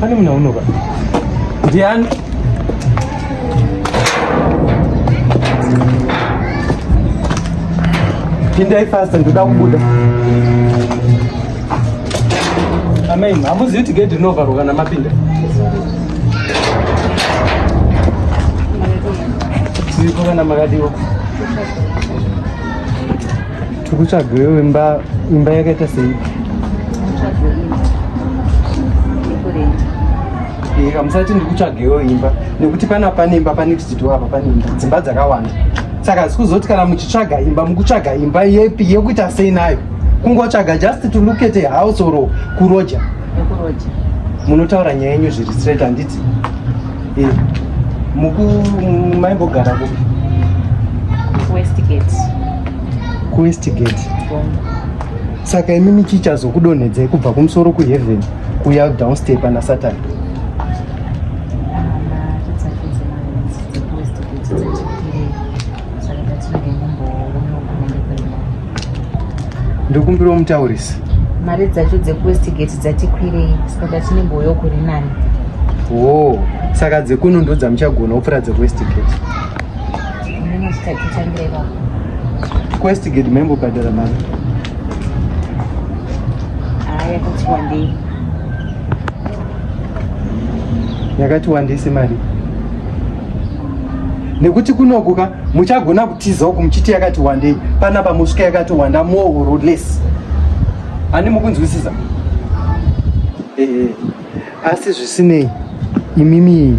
Pane muna unoba. Ndiani? Pindai fast ndoda kubuda. Amen. Hamuzivi kuti gate rinovharwa kana mapinda. Tiripo kana makadiwa. tiri kutsvageyo imba imba yakaita sei hamusati ndiri kutsvageyo imba nekuti pana pane imba pane kuziti apa pane imba dzimba dzakawanda saka zikuzoti kana muchitsvaga imba mukutsvaga imba yepi yekuita sei nayo kungotsvaga just to look at a house or kuroja munotaura nyaya yenyu zviri straight handiti Eh, muku maimbogara kupi? Westgate. KuWestgate. Saka imi michichazokudonhedzai kubva kumusoro kuheaven kuya downstep ana Satan. ndokumbirawo mutaurisi mari dzacho dzekuwestgate dzatikwirei saka tatine mboyo kuri nani wo saka dzekuno ndo dzamuchagona kupfuura dzekuwestgate kuwestgate maimbobhadhara mari yakati wandei yakati wandei semari nekuti kunokuka muchagona kutiza uku muchiti yakati wandei panapa musvika yakati wanda mooroles ani mukunzwisisa ehe asi zvisinei imimi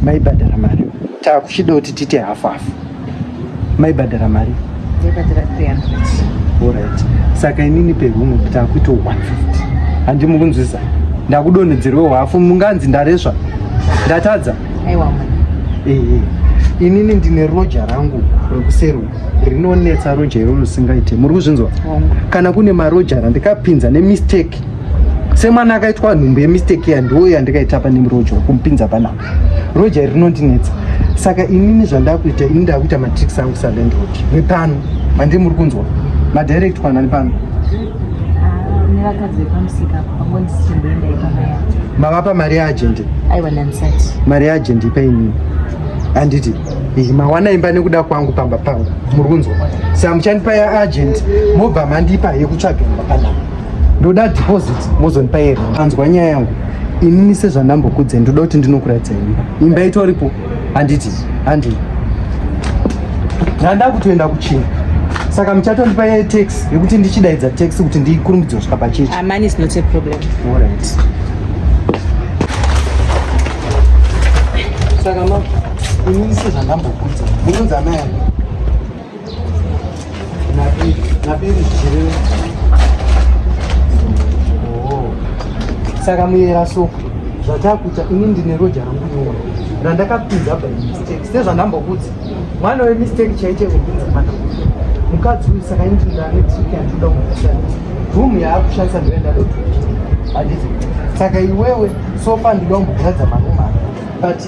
maibhadhara mari takuchida kuti tiite hafu hafu maibhadhara mari orit saka inini pehuno takuita 150 handi mukunzwisisa ndakudonhedzerwewo hafu munganzi ndaresva ndatadza aiwa ehe inini ndine roja rangu rekuseru rinonetsa roja iro risingaite muri kuzvinzwa kana kune maroja randikapinza nemistake semwana akaitwa nhumbu yemistake ya ndiwo yandikaita pane roja kumpinza panapa roja iri rinondinetsa saka inini zvandakuita ini ndakuita matricks angu salandrod nepano mandii muri kunzwa madirectwa nani pano nevakadzi vepamusika apo panguva ndisichimboenda ipa mari yacho mavapa mari yaagent aiwa ndanisati mari yaagent ipa inini handiti mawana imba nekuda kwangu pamba pangu muri kunzwa saka muchandipa yaagent mobva mandipa yekutsvaga imba panapa ndoda deposit mozondipa yero anzwa nyaya yangu inini sezvandambokudze ndoda kuti ndinokuratidzai imba imba itoripo handiti handi ndanda kutoenda kuchina saka muchatondipa ye tax yekuti ndichidaidza tax kuti ndikurumidze kusvika pachechi amani ah, is not a problem all right saka ma ini ise zvandambokudza munonzi amai saka muyera so zvatakuita ini ndine roja rangu nyora randakapinza by mistake sezvandambokuti mwana wemistake chaite kupinza mwana mukadzi uyu saka initindaanetriki yandinoda kumushandisa room yaakushandisa ndoenda doto handizi saka iwewe sofa ndinoda kumbogradza marumu ake but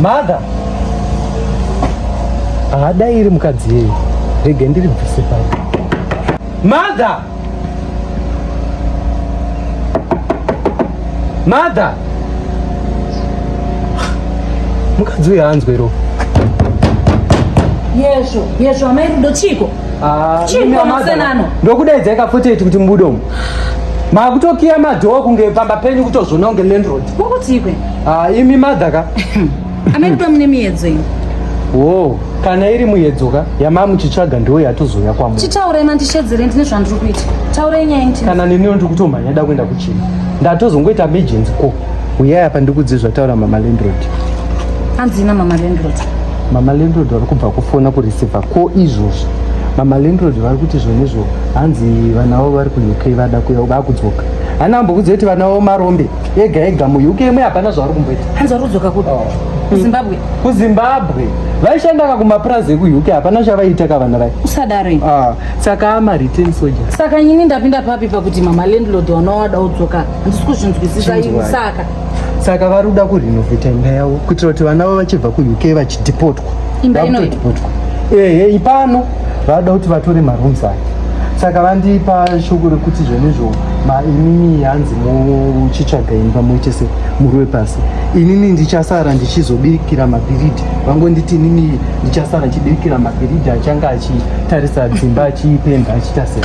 Mother. Haadai iri mukadzi yeye. Rege ndiri bvise pano. Mother. Mother. Mukadzi uyu anzwe ro. Yezvo, yezvo amai rudo chiko. Ah, chiko masenano. Ndokudaidza ikafuti kuti mbudomo. Makutokiya madhoo kunge pamba penyu kutozvona kunge landlord. Kurikutikwe? Ah, imi mother ka? Amai kuda mune miyedzo iyi. Wo, kana iri muyedzo ka yamamu chitsvaga ndiwo yatozouya kwa munhu. Chitaurai mandishedzere ndine zvandiri kuita. Taurai nyaya inti. Kana nini ndiri kutomhanya da kuenda kuchini. Ndatozongoita emergency ko. Uyai apa ndikudze zvataura mama landlord. Hanzina mama landlord. Mama landlord vari kubva kufona kureceiver ko izvozvo. Mama landlord vari kuti zvone zvo hanzi vana vavo vari ku UK vada kuya vakudzoka. Hana ambokudze kuti vana vavo marombe. ega ega muuk imwe hapana zvavari kumboita hanzi vari kudzoka kuti oh. kuzimbabwe kuzimbabwe vaishandaka kumapurazi ekuuk hapana chavaiita ka vana vai usadaro ah, saka amareturn soja saka nyini ndapinda papi pakuti mama landlord wanawada udzoka handisi kuzvinzwisisa ini saka saka vari kuda kurenovheta imba yavo kuitira kuti vana vavo vachibva kuuk vachidhipotwa imba inoipotwa ehe ipano vada kuti vatore marooms aya saka vandipa shoko rekuti zvenizvo inini hanzi muchitsvaga imba muite se muri wepasi inini ndichasara ndichizobirikira mabhiridhi vangonditi inini ndichasara ndichibirikira mabhiridhi achange achitarisa dzimba achiipenda achiita sei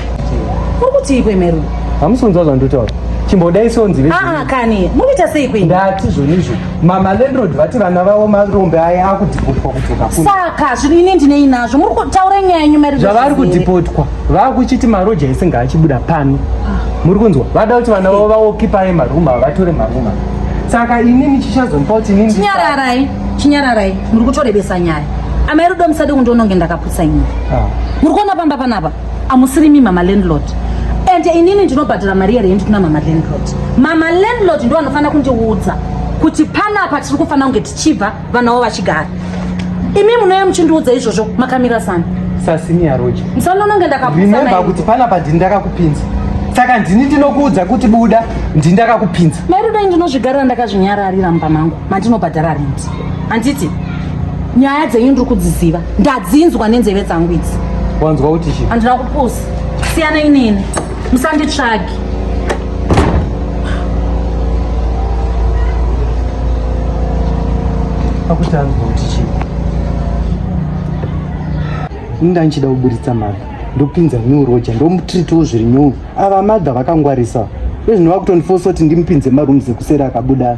uri kutii kwemeru hamusi kunzwa zvandotaura chimbodai sonzi ah, ah, kani mukuita sei kwei ndati zvonizvo Mama landlord vati vana vavo marombe aya akudhipotwa kudzoka kuno. Saka zvino ini ndinei nazvo muri kutaura nyaya yenyu mari. Zvavari kudhipotwa vakuchiti maroja ese ngaachibuda pano. Muri kunzwa vada kuti vana vavo vaokipaye maroom ava vatore maroom ava. Saka ini ndichichazompa kuti ini chinyararai chinyararai muri kutorebesa nyaya. Amai rudo musade kundiona kunge ndakaputsa nyaya. Ah. Muri kuona pamba panapa. amusirimi mama landlord and inini ndinobhadhara mari yerendi kuna mama landlord mama landlord ndo vanofanira kundiudza kuti panapa tiri kufanira kunge tichibva vana vavo vachigara imi munouya muchindiudza izvozvo makamira sana sasiniya roja musanononge ndakakusaimemba kuti panapa ndini ndakakupinza saka ndini ndinokuudza kuti buda ndini ndakakupinza mairudo ndinozvigarira ndakazvinyararira mumba mangu mandinobhadhara rent handiti nyaya dzenyu ndiri kudziziva ndadzinzwa nenzeve dzangu idzi wanzwa kuti chi handina kupusa siyana inini musanditsvagi akuti anzwa kuti chi inda ndichida kuburitsa mari ndopinza new roja ndomutritiwo zviri nyou ava madha vakangwarisa ezvino vakutondifosa kuti ndimupinze marooms ekuseri akabuda